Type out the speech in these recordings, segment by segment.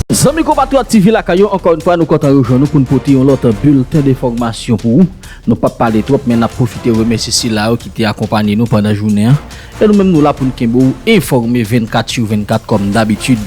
Zanmi konpatriyòt TV lakay yo ankò yon fwa nou kontan rejwenn nou pou n pote yon lòt bilten de fògmasyon pou ou. Nou pap pale twòp men nap pwofite remèsye sila yo ki te akonpanye nou pandan jounen an e nou menm nou la pou n kenbe ou enfòme 24 sur 24 kòm dabitid.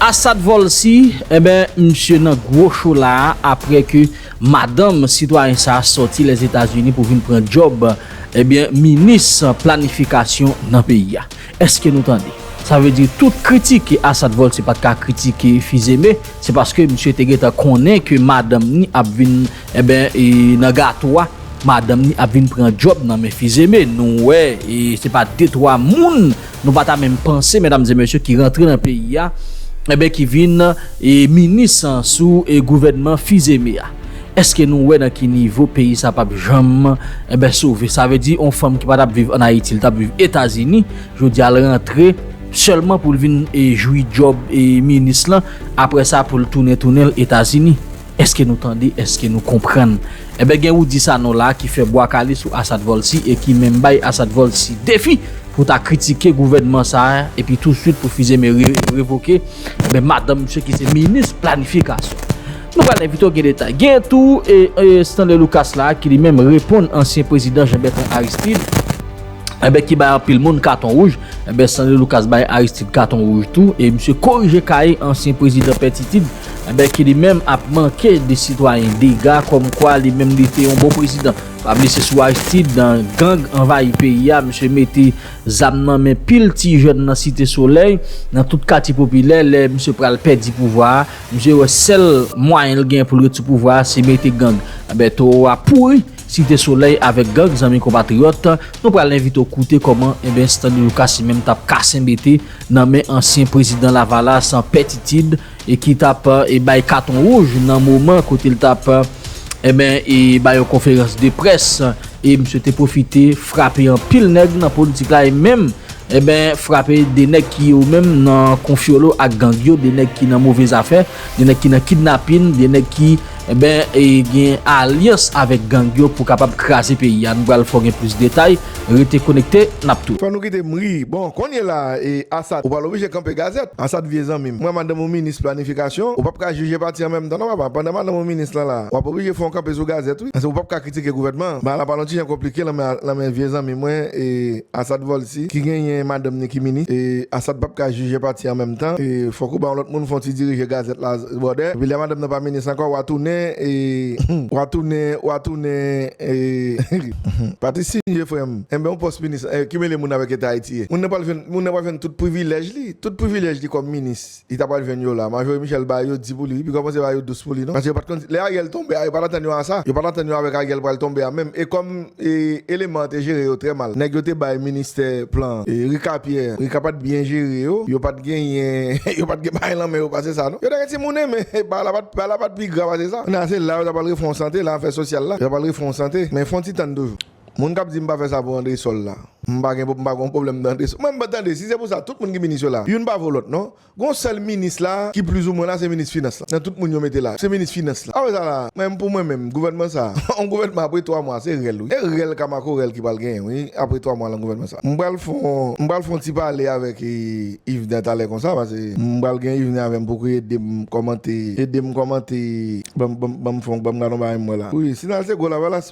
Asad Volcy, enben misye nan gwo cho la a aprè ke madanm sitwayen sa a sòti Lèzetazini pou vin pran djòb enben minis planifikasyon nan peyi a. Eske nou tande? Sa vle di tout kritik ke Assad Volcy pat ka kritike Fils-Aimé, se paske misye te gentan konnen ke madanm ni ap vin eben e nan gato a, madanm ni ap vin pran djòb nan men Fils-Aimé. Nou wè e se pa de twa moun, nou pa ta menm panse medam e mesye ki rantre nan peyi a, eben ki vin e minis sou e gouvènman Fils-Aimé a. Eske nou wè nan ki nivo peyi sa pap janm enben sove sa vle di on fanm ki pa tap viv an ayiti li tap viv etazini jodi a l rantre sèlman pou l vin e jwi djòb e minis lan aprè sa pou l tounen tounen l etazini eske nou tande eske nou konprann enben gen Roudy Sanon la ki fè bwa kale sou Assad Volcy e ki menm bay Assad Volcy defi pou ta kritike gouvènman sa epi tou swit pou Fils-Aimé revoke enben madanm misye ki se minis planifikasyon. Nou pral envite w gen detay. Genyen tou Stanley Lucas la ki li menm reponn ansyen prezidan Jean Bertrand Aristide enben ki bay anpil moun katon wouj enben Stanley Lucas bay Aristide katon wouj tou e misye korije kaye ansyen prezidan Pè Titid enben ki li menm ap manke de sitwayen dega kòm kwa li menm li te yon bon prezidan. Pa bliye se sou Aristide gang anvayi peyi a misye mete zam nan men pil ti jèn nan Site Solèy nan tout katye popilè lè misye pral pèdi pouvwa a. Misye wè sèl mwayen l gen pou l ret sou pouvwa a se mete gang. Anben towo a pouri Site Solèy avèk gang zanmi konpatriyòt, nou pral envite w koute kòman enben Stanley Lucas li menm t ap kase mete nan men ansyen prezidan lavalas Pè Titid e ki t ap e bay katon wouj nan moman kote l t ap enben e bay yon konferans de près e misye te pwofite frape anpil nèg nan politik la e menm Eben frape 2 nèg ki yo menm nan konfyolo ak gang yo, 2 nèg ki nan move zafè, 2 nèg ki nan kidnapin, 2 nèg ki eben gen alyans avèk gang yo pou kapab kraze peyi a. Nou pral fè w gen plis detay, rete konekte, n ap tou. Fè nou kite m ri. Bon, kounye la a, e Asad, ou pral oblije kanpe gazèt. Asad, vye zanmi m, mwen madanm ou minis planifikasyon, ou p ap ka jije pati an menm tan non papa. Pandan madanm ou minis lan la a, w ap oblije fè yon kanpe sou gazèt wi. Ou p ap ka kritike gouvènman an. Bagay la pral yon ti jan konplike lan men vye zanmi mwen e. Asad vòl si ki genyen madanm ni ki minis e asad pap ka jije pati an menm tan e fòk ou ba yon lòt moun fon ti dirije gazèt la bròdè epi lè madanm nan pa minis ankò wa tounen e wa tounen wa tounen e humm pati sinje frèm enben yon pòs minis e ki mele moun avèk eta ayiti ye moun nan pral jwenn moun nan pral jwenn tout privilèj li tout privilèj li kòm minis. Li ta pral jwenn yo la. Majori Michel bay yo di pou li wi pi kòmanse bay yo dous pou li non. Paske yo pat konn si lè Ariel tonbe a yo pat antann yo a sa. Yo pat antann yo avèk Ariel pral tonbe a menm. E kòm e eleman an te jere yo trè mal. Nèg yo te bay ministè plan an. E Rika Pierre, Rika pat byen jere yo. Yo pat genyen yo pat gen bagay lan men yo pase sa non. Yo ta gen ti moune men bagay la pat bagay la pat pi gra pase sa. Kounya se la yo ta pral refè yon sante la afè sosyal la. Yo ta pral refè yon sante. Men fon ti tann toujou. Moun kap di m pa fè sa pou andresol la m pa gen m pa gon pwoblèm nan andresol mwen m tande si se pou sa tout moun ki minis yo la youn pa vo lòt non gon sèl minis la ki pliz ou mwen la se minis finans la nan tout moun yo mete la se minis finans la apre sa la men pou mwen menm gouvènman sa yon gouvènman apre 3 mwa se rèl wi e rèl ka makorèl ki pral genyen wi apre 3 mwa lan gouvènman sa m pral fon m pral fon ti pale avèk Yvner talè konsa pase m pral gen Yvner avè m pou ki ede m kòmante ede m kòmante banm banm fon banm gad yon bagay m wè la wi si nan se gwo lavalas.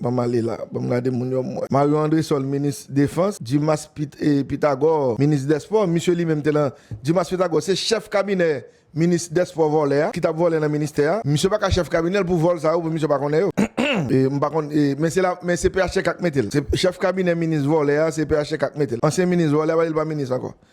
Banm ale la. Banm gade moun yo mwen. Mario Andresol minis defans, Dimas Pythagore minis dèspò, misye li menm te nan, Dimas Pythagore se chèf kabinè minis dèspò vòlè a ki tap vòlè nan ministè a, misye paka chèf kabinèl pou vòl sa yo pou misye pa konnen yo. M pa konn men se la men se phtk k metel se chèf kabinè minis vòlè a se phtk k metel ansyen minis vòlè a pa li pa minis ankò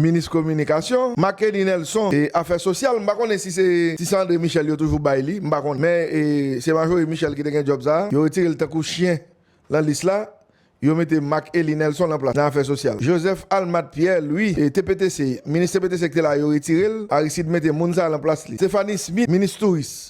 Minis kominikasyon, Marc-Eddy Nelson, e afè sosyal, m pa konnen si se ti san André Michel yo toujou bay li, m pa konnen. Men, se Marjorie Michel ki te gen djòb sa a. Yo retire l tankou chyen lan lis la. Yo mete Marc-Elie Nelson lan plas lan afè sosyal. Joseph Almathe Pierre Louis, TPTC, minis TPTC ki te la a, yo retire l. Aristide mete moun sa a lan plas li. Stéphanie Smith, minis touris.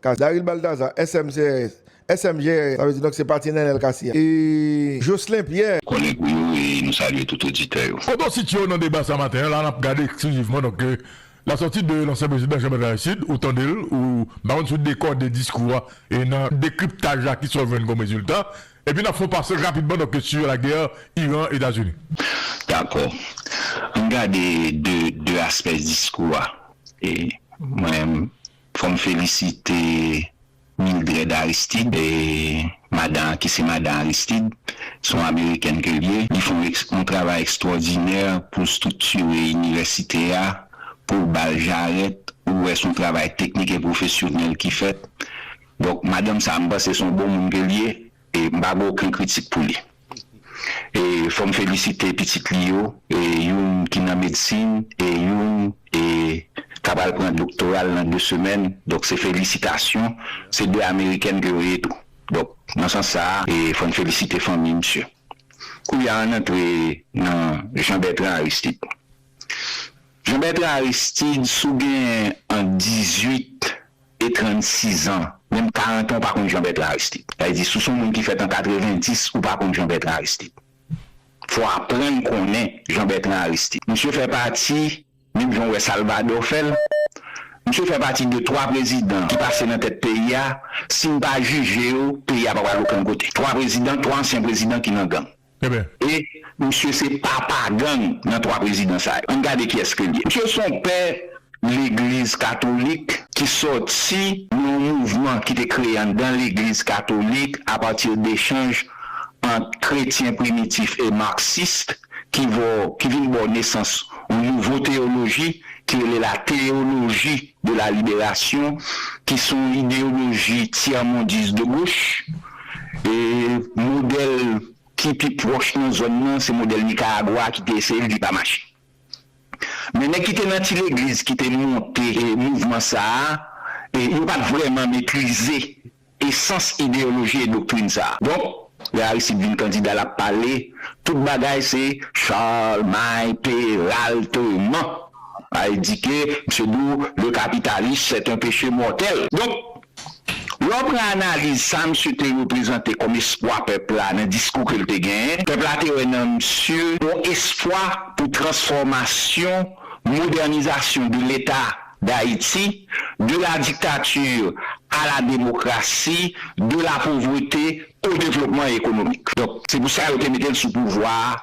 Kazaril Baltazar, SMCRS, SMGRS, sa vle di donk se pati Nenel Cassy a, e Jocelin Pierre. Kòlèg ou yo e nou salye tout oditè yo. Foto Sitio nan deba sa maten an la nap gade eksklizivman donk la sòti de lansyen prezidan Jean Bertrand Aristide ou tande l ou m pa konn si w dekòde diskou a e nan dekriptaj la kisa w jwenn kòm rezilta epi nap fè yon pase rapidman donk sur la guerre Iran Etazini. Dakò. Ann gade de aspè diskou a e mwen Fò m felisite Mildred Aristide, madan an ki se madan Aristide, se yon amerikèn ke l ye, li fè yon travay ekstwòdinè pou l striktire inivèsite a, pou l ba l jarèt, ou wè se yon travay teknik e pwofesyonèl ki fèt, donk madanm sa a m panse se yon bon moun ke l ye e m pa gen oken kritik pou li. E fò m felisite pitit li yo, youn ki nan medsin e youn ka pral pran doktora l nan de semèn. Donk se felisitasyon. Se de amerikèn ke yo ye tou. Donk nan sans sa a, fò n felisite fanmi misye. Koulye a, ann antre nan Jean Bertrand Aristide. Jean Bertrand Aristide, si w gen ant 18. e 36 ans menm 40 ans ou pa konn Jean Bertrand Aristide sa vle di sou son moun ki fèt an 90 ou pa konn Jean Bertrand Aristide fò aprann konnen Jean Bertrand Aristide misye fè pati menm jan ou wè Salvador fèl misye fè pati de 3 prezidan ki pase nan tèt peyi a sin pa jije yo peyi a pa pral okenn kote 3 prezidan 3 ansyen prezidan ki nan gang. Enben. E misye se papa gang nan 3 prezidan sa yo. Ann gade kiyès ke l ye. Misye son pè legliz katolik ki sòti nan yon mouvman ki te kreye anndan legliz katolik a partir d'echanj ant kretyen primitif e marxist ki vo ki vin ba w nesans yon nouvo teyoloji ki rele la théologie de la libération ki son ideyoloji tyèmondis de goch. Modèl ki pi pwòch nan zòn nan se modèl Nikaragwa a ki te eseye l, li pa mache. Men nèg ki te nan ti legliz ki te monte mouvman sa a, yo pa t vrèman metrize esans ideyoloji e doktrin sa a. Donk, lè Aristide vin kandida l ap pale, tout bagay se Charlemagne Peralt man. Sa vle di ke misye di w, le capitalisme c'est un péché mortel. Donk, Lè w pran analiz sa msye te reprezante kòm espwa pèp la nan diskou ke l te genyen, pèp la te wè nan msye yon espwa pou transfòmasyon, modènizasyon de leta dayiti, de la dictature a la demokrasi, de la pauvreté au développement économique. Donk, se pou sa yo te mete l sou pouvwa a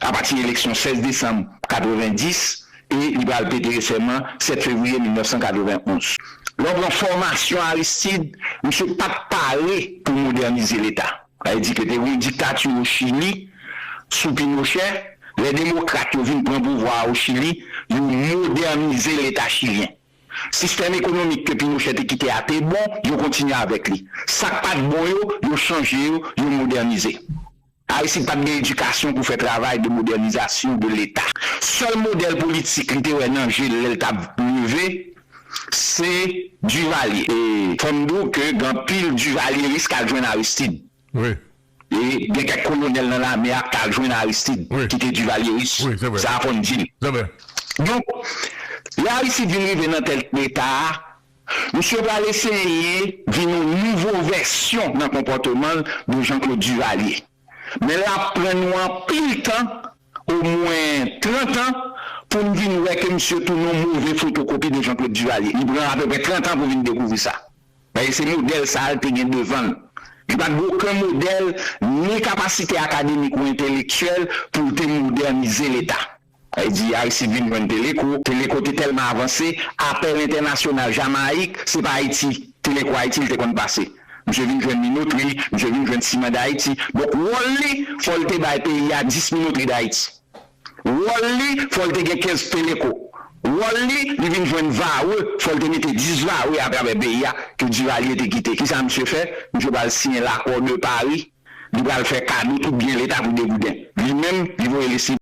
apati eleksyon 16 desanm 90 e li pral pete sèman 7 fevriye 1991. Lè w pran fòmasyon Aristide, misye pa t pare pou modènize Leta. Sa vle di ke te gen yon diktati o Chili sou Pinochè, lè demokrat yo vin pran pouvwa a o Chili, yo modènize Leta chilyen. Sistèm ekonomik ke Pinochè te kite a te bon, yo kontinye avèk li. Sa k pa t bon yo, yo chanje yo, yo modènize. Aristide pat gen edikasyon pou fè travay de modènizasyon de leta. Sèl modèl politik li te wè nan je l lè l tap leve se Duvalier. E fò m di w ke gen anpil Duvalieris k al jwenn Aristide. E gen kèk kolonèl nan lame a k t al jwenn Aristide ki te Duvalieris. Sa a fò n di l. Donk, lè Aristide vin rive nan tèt leta a, Misye pral eseye vin yon nouvo vèsyon nan konpòteman l de Jean Claude Duvalier. Men l ap pran nou anpil tan, omwen 30 an, pou n vin wè ke misye tounen yon move fotokopi de Jean Claude Duvalier. Li pran apeprè 30 an pou vin dekouvri sa. Paske se modèl sa a l te gen devan l. Li pa t gen oken modèl ni kapasite akademik ou entelektyèl pou l te modènize Leta. Li di Aristide vin jwenn Teleco, Teleco te tèlman avanse, apèl entènasyonal Jamayik, se pa Ayiti, Teleco Ayiti li te konn pase. Misye vin jwenn Minotri, misye vin jwenn Siman Dayiti. Donk wòl li, fò l te bay peyi a 10 Minotri Dayiti. Wòl li, fò l te gen 15 Teleco. Wòl li, li vin jwenn Varreux, fò l te mete 10 Varreux atravè peyi a, ke Duvalier te kite. Ki sa misye fè? Misye pral siyen L'accord de Paris, li pral fè kado tout byen leta pou degouden. Li menm, li voye li.